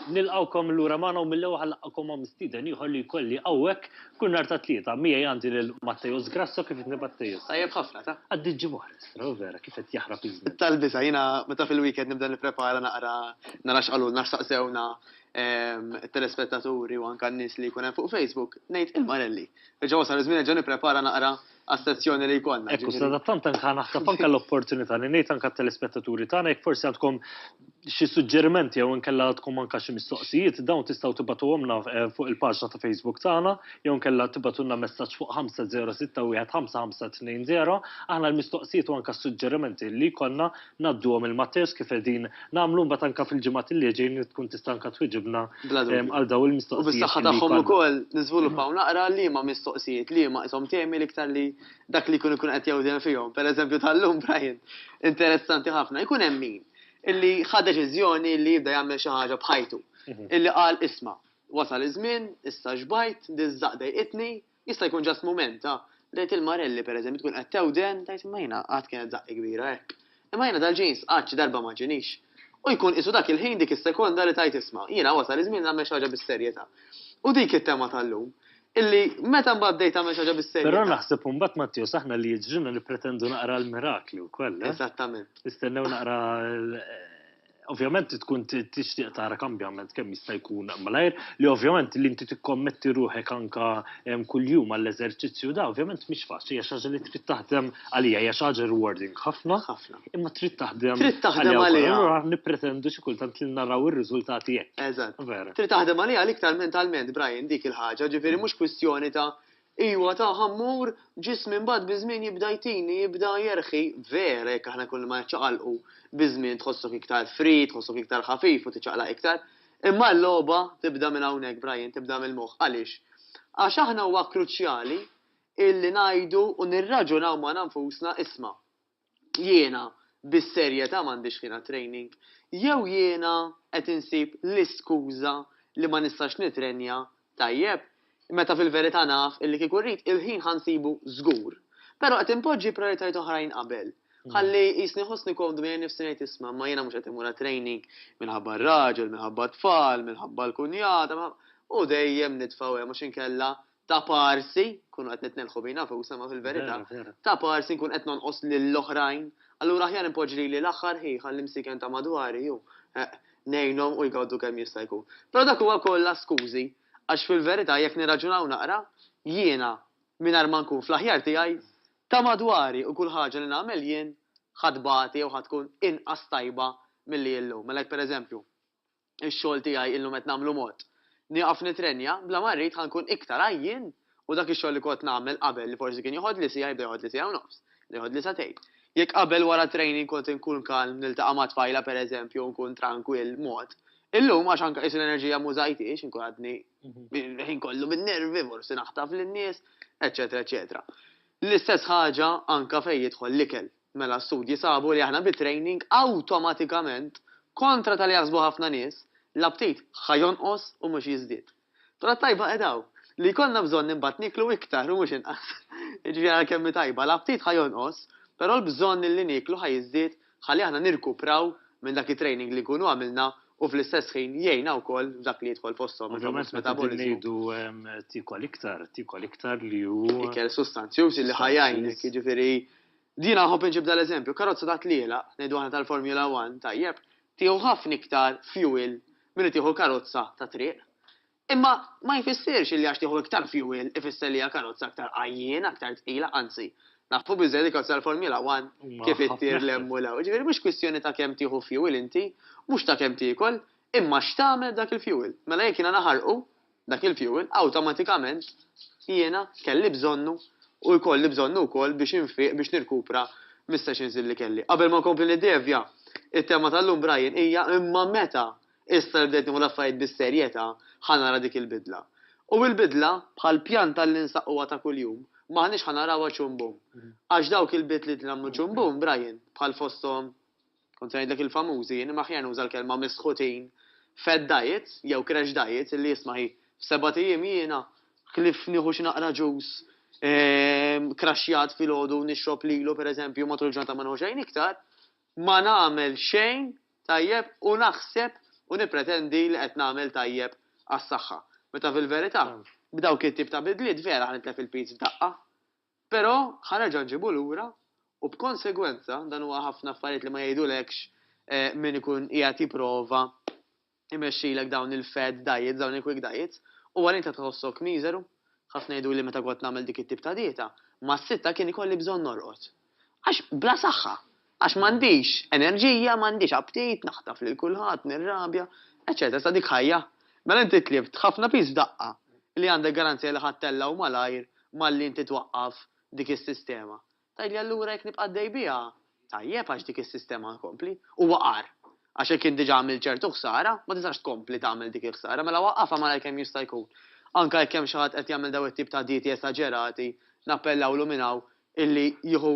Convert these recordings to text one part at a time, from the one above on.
Nilqgħukom lura magħna u mill-ewwel ħa nlaqgħukom ma' mistieden ieħor li jkolli hawnhekk kull nhar ta' Tlieta. Miegħi għandi lil Matteus Grasso, kif inhi Matteus? Tajjeb ħafna, ta? Għaddi l-ġimgħa ħdejsna, u vera, kif qed jaħrab iż-żmien. It-talbisa, jiena meta fil-weekend nibda nipprepara naqra nara x'qalulna, x'saqsewna t-telespettaturi u anke n-nies li jkun hemm fuq Facebook, ngħid il-marelli. Reġa' wasal iż-żmien nerġa' nipprepara naqra għas-sezzjoni li jkollna. Ekku, sadattant anka naħseb anka l-opportunità li ngħid anka telespettaturi tagħna jekk forsi għandkom xi suġġerimenti jew inkella għandkom anka xi mistoqsijiet, dawn tistgħu tibatuhomna eh, fuq il-paġna ta' Facebook tagħna jew inkella tibatulna messaġġ fuq 506 5520. Aħna l-mistoqsijiet u anka suġġerimenti li jkollna ngħadduhom il-Mattews kif qegħdin nagħmlu mbagħad anke fil-ġimgħat li ġejjin tkun tista' anke twiġibna għal dawn il-mistoqsijiet. U bis-saħħa tagħhom ukoll niżviluppaw naqra liema mistoqsijiet, liema qishom temi l-iktar li dak li jkun ikun qed jewden fihom. Pereżempju tal-lum Brian, interessanti ħafna, jkun hemm min illi ħa deċiżjoni li jibda jagħmel xi ħaġa b'ħajtu, illi qal isma' wasal iż-żmien, issa xbajt, diż-żaqq dejqitni, Jista' jkun just mument ta', tgħid il-Marelli pereżempju tkun qed tewden, tgħid imma jiena qatt kienet daqqi kbira hekk. Imma jiena dal-jeans qatt xi darba ma ġienix. U jkun qisu dak il-ħin dik is-sekonda li tgħid isma', jiena wasal iż-żmien nagħmel xi ħaġa bis-serjetà. U dik hi t-tema tal-lum. Illi meta mbagħad bdejt tagħmel xi ħaġa bis-serjetà. Però naħseb mbagħad Mattew saħna li jiġrilna nippretendu naqra l-mirakli wkoll, le? Eżattament. Nistennew naqra l-, ovvjament tkun tixtieq tara kambjament kemm jista' jkun malajr li ovvjament li inti tikkommetti ruħek anka kuljum għall-eżerċizzju da ovvjament mhix faċli għax ħaġa li trid taħdem għalija hija xi ħaġa rewarding ħafna ħafna imma trid taħdem trid taħdem għalija allura nippretendu xi kultant li naraw ir-riżultati hekk. Eżatt. Vera. Trid taħdem għalija l-iktar mentalment Brian dik il-ħaġa, ġifieri mhux kwistjoni ta' Iwa ta' Ħammur, ġismi mbagħad biż-żmien jibda jtini, jibda jerħi, vera jekk aħna kull ma niċċaqalqu biż-żmien tħossok iktar free, tħossok iktar ħafif u tiċċaqlaq iktar. Imma l-logħba tibda minn hawnhekk Brian, tibda mill-moħħ. Għaliex? Għax aħna huwa kruċjali illi ngħidu u nirraġunaw ma' nfusna isma', jiena bis-serjetà m'għandix ħin għat-training jew jiena qed insib l-iskuża li ma nistax nittrenja tajjeb meta fil-verità naf illi kieku rrid il-ħin ħa nsibu żgur. Però qed inpoġġi prijoritajiet oħrajn qabel. Ħalli qisni nħossni komdu miegħi nnifsi ngħid isma' imma jiena mhux qed immur għat-training minħabba r-raġel, minħabba t-tfal, minħabba l-kunjata, minħabba, u dejjem nitfa' wehem għax inkella ta' parsi, kunu qed nitnelħu bina nfusna ma fil-verità, ta' parsi nkun qed nonqos lill-oħrajn, allura aħjar inpoġġi lili l-aħħar ħin ħall-imsiken ta' madwari u ngħinhom u jgawdu kemm jista' jkun. Però dak huwa kollha skużi, għax fil-verità jekk nirraġunaw naqra, jiena, mingħajr ma nkun fl-aħjar tiegħi, ta' madwari u kull ħaġa li nagħmel jien ħa tbati jew ħa tkun inqas tajba milli hi llum. Mela jekk pereżempju, Ix-xogħol tiegħi illum qed nagħmlu mod. Nieqaf nittrenja, bla ma rrid ħa nkun iktar għajjien u dak ix-xogħol li kont nagħmel qabel li forsi kien joħodli siegħa jibda joħodli siegħa u nofs, jibda joħodli sagħtejn. Jekk qabel wara t-training kont inkun kalm niltaqa' mat-tfajla pereżempju u nkun trankwill mod, illum għax anke qisu l-enerġija m'użajthiex inkun għadni l-ħin kollu bin-nervi, forsi naħtaf lin-nies, eċċetera eċċetera. L-istess ħaġa anke fejn jidħol l-ikel. Mela studji sabu li aħna bi training awtomatikament, kontra ta' li jaħsbu ħafna nies, l-aptit ħa jonqos u mhux jiżdied. Però t-tajba qiegħda hawn, li jkollna bżonn imbagħad nieklu iktar u mhux inqas. Jiġifieri għalkemm hi tajba, l-aptit ħa jonqos, però l-bżonn li nieklu ħa jiżdied ħalli aħna nirkupraw minn dak it-training li nkunu għamilna u fl-istess ħin jgħinna wkoll f'dak li jidħol fosthom il-fluss metaboliżmu. Ovvjament meta qegħdin ngħidu tikol iktar, tikol iktar li hu. Ikel sustanzjuż li ħa jgħinek, jiġifieri Jiena nħobb inġib dal-eżempju, karozza ta' tlielaq, ngħidu aħna tal-Formula One, tajjeb, tieħu ħafna iktar fjuwil milli tieħu karozza ta' triq. Imma ma jfissirx li għax tieħu iktar fjuwil ifisser li hija karozza aktar għajjiena, aktar tqila, anzi, nafu biżżejjed li karozza tal-Formula One kif ittir 'l hemm u 'l hawn. Jiġifieri mhux kwistjoni ta' kemm tieħu fjuwil inti, mhux ta' kemm tiekol, imma x'tagħmel b'dak il-fjuwil. Mela jekk jiena naħarqu, Dak il-fjuwil awtomatikament jiena kelli bżonnu u jkolli bżonnu wkoll biex infiq biex nirkupra mis-sessions li kelli. Qabel ma nkompli niddevja, it-tema tal-lum Brian hija imma meta, issa li bdejt nieħu l-affarijiet bis-serjetà, ħa nara dik il-bidla. U il-bidla, bħal pjanta li nsaqquha ta' kuljum, m'aħniex ħa narawha ċumbum. Għax dawk il-bidliet li nagħmlu ċumbum, Brian, bħal fosthom, Kont se ngħidlek il-famużi jien, imma aħjar nuża l-kelma misħutin fat diets jew crash diets illi isma' hi, f'sebat ijiem jiena ħlief nieħu xi naqra ġus kraxxjat filgħodu u nixrob lilu pereżempju matul il-ġurnata ma nieħu xejn iktar, ma nagħmel xejn tajjeb u naħseb u nippretendi li qed nagħmel tajjeb għas-saħħa. Meta fil-verità, b'dawk it-tip ta' bidliet vera ħa nitlef il-piż f'daqqa. Però ħa nerġgħu nġibu lura u b'konsegwenza, dan huwa ħafna affarijiet li ma jgħidulekx min ikun qiegħed jipprova jmexxilek dawn il-fad diets, dawn il-quick diets, u għalhekk inta tħossok miżeru. Ħafna jgħiduli meta kont nagħmel dik it-tip ta' dieta, mas-sitta kien ikolli bżonn norqod. Għax bla saħħa! Għax m'għandix enerġija, m'għandix aptit, naħtaf lil kulħadd, nirrabja, eċċetera sa dik ħajja. Mela inti tlift ħafna piż f'daqqa, li għandek garanzija li ħa ttellgħu malajr malli inti twaqqaf dik is-sistema. Tgħidli allura jekk nibqa' għaddej biha, tajjeb għax dik is-sistema tkompli. Huwa agħar. Għax jekk int diġà għamilt ċertu ħsara, ma tistax tkompli tagħmel dik il-ħsara, mela waqqafha malajr kemm jista' jkun. Anke jekk hemm xi ħadd qed jagħmel dawn it-tip ta' dieti esaġerati, nappellawlu minn hawn illi jieħu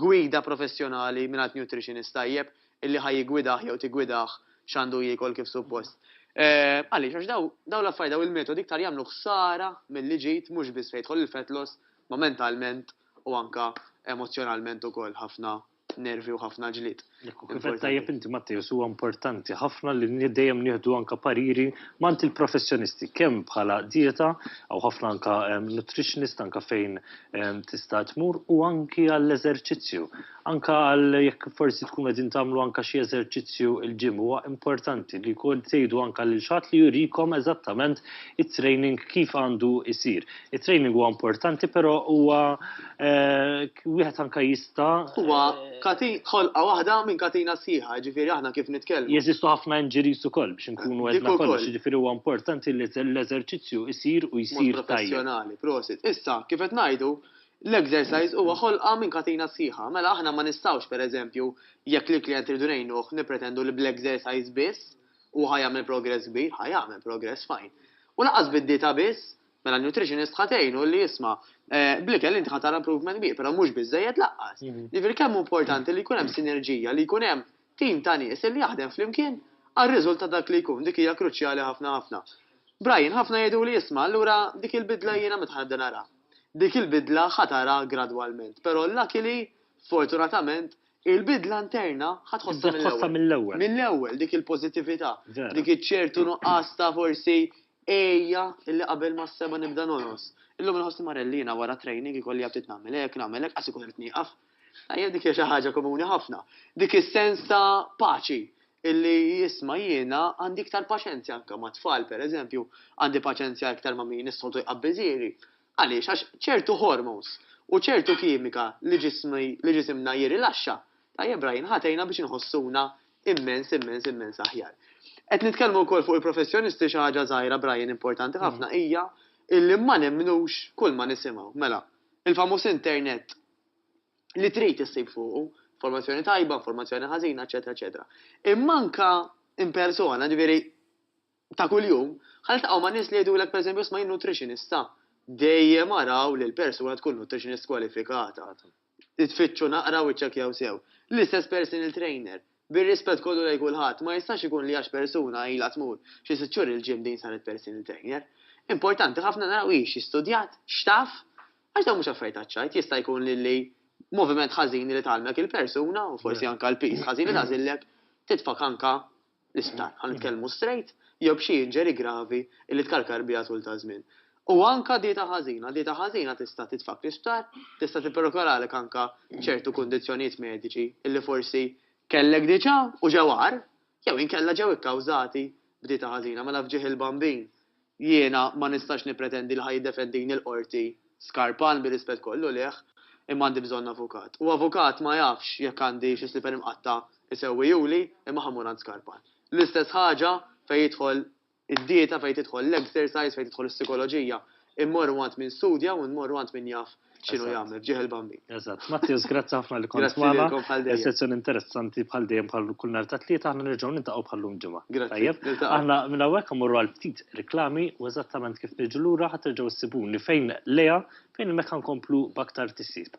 gwida professjonali mingħand nutritionist tajjeb illi ħa jiggwidah jew tiggwidah x'għandu jiekol kif suppost. Għaliex? Għax dawn dawn l-affarijiet, dawn il-metodi iktar jagħmlu ħsara milli ġid mhux biss fejn jidħol il-fat loss, ma mentalment u anke emozzjonalment ukoll ħafna nervi u ħafna ġlied. Kifet tajjeb inti Matteo, huwa importanti ħafna li dejjem nieħdu anka pariri mant il-professjonisti, kemm bħala dieta, għaw ħafna anka nutritionist anka fejn tista' tmur u anki għall-eżerċizzju. Anka għal jekk forsi tkun qegħdin tagħmlu anka xi eżerċizzju il-ġim huwa importanti li jkun tgħidu anka lil xatt li jurikom eżattament it-training kif għandu isir. it-training huwa importanti, però huwa eh, wieħed anka jista' Huwa eh, kati ħolqa waħda minn katina sħiħa, ġifieri aħna kif nitkellmu. Jeżistu ħafna injuries ukoll biex nkunu eh, għedna kollox, ġifieri huwa importanti li l-eżerċizzju isir u jsir tajjeb. Professjonali, prosit. Issa, kif qed ngħidu, l-exercise huwa ħolqa minn katina sħiħa. Mela aħna ma nistgħux pereżempju jekk li klient irdu ngħinuh nippretendu li bl-exercise biss u ħajja minn progress kbir, ħajja minn progress fajn. U laqas bid-dita biss Mela n-nutritionist ħa tgħinu li isma' bl-ikel inti ħa tara improvement kbir, però mhux biżżejjed laqqas. Jiġifieri kemm hu importanti li jkun hemm sinerġija, li jkun hemm tim ta' nies li jaħdem flimkien għar-riżult ta' dak li jkun, dik hija kruċjali ħafna ħafna. Brian, ħafna jgħiduli isma' allura dik il-bidla jiena meta ħa nibda naraha? Dik il-bidla ħa taraha gradwalment, però luckily, fortunatament, Il-bidla interna ħa tħossha mill-ewwel. Tibda tħossha mill-ewwel. Mill-ewwel dik il-pożittività. Vera. Dik iċ-ċertu nuqqas ta' forsi għeja li qabel mas-sebgħa nibda nogħnos. Illum inħossni mar għelliena wara training ikolli għad ftit nagħmel hekk, nagħmel hekk, qas ikun rrid nieqaf. Ejja dik hija xi ħaġa komuni ħafna. Dik is-sens ta' paċi illi isma' jiena għandi iktar paċenzja anke mat-tfal pereżempju, għandi paċenzja iktar ma' min is-soltu jqabbiż iri. Għaliex? Għax ċertu hormones u ċertu kimika li ġisimna jirrilaxxa, tajjeb ra jien, ħa tgħinna biex inħossuna immens, immens, immens aħjar. Qed nitkellmu wkoll fuq il-professjonisti xi ħaġa żgħira Brian importanti ħafna hija illi ma nemmnux kulma nisimgħu. Mela, il-famuż internet li trid issib fuqu informazzjoni tajba, informazzjoni ħażina, eċetera, eċetera. Imma anke in persona, ġifieri ta' kuljum, ħa niltaqgħu ma' nies li jgħidulek pereżempju isma' jien nutritionist sa. Dejjem araw li l-persuna tkun nutritionist kwalifikata. Tfittxu naqra u ċċekkjaw sew. L-istess personal trainer, bir-rispett kollu lejn kulħadd, ma jistax ikun li għax persuna ilha tmur xi sitt xhur il-gym din saret personal trainer. Importanti ħafna naraw hi xi studjat, x'taf, għax dawn mhux affarijiet għaċ-ċajt, jista' jkun li moviment ħażin li tgħallmek il-persuna u forsi anke l-piż ħażin li tagħżillek titfak anke l-isptar, ħa nitkellmu straight, jew b'xi injury gravi li tkalkar biha tul ta' żmien. U anke dieta ħażina, dieta ħażina tista' titfgħek l-isptar, tista' tipprokralek anke ċertu kundizzjonijiet mediċi li forsi kellek diġà u ġew agħar, jew inkella ġew ikkawżati b'dieta ħażina. Mela f'ġieħ il-bambin Jiena ma nistax nippretendi li ħa jiddefendini l-Qorti Scarpan, bir-rispett kollu lejh, imma għandi bżonn avukat. U avukat ma jafx jekk għandi xi sliper imqatta' isewwihuli, imma ħa mmur għand Scarpan. L-istess ħaġa fejn jidħol id-dieta, fejn tidħol l-exercise, fejn tidħol is-sikoloġija. Immorru għand min studja u immorru għand min jaf xinu jagħmel ġieħ il-bambin. Eżatt, Mattius, grazzi ħafna li kont magħna. Sezzjoni interessanti bħal dejjem bħal kull nhar ta' tlieta aħna nerġgħu nintaqgħu bħal lum ġimgħa. Grazzi. Aħna minn hawnhekk immorru għal ftit reklami u eżattament kif niġu lura ħadd terġgħu ssibuni fejn leja fejn hemmhekk nkomplu b'aktar tisib.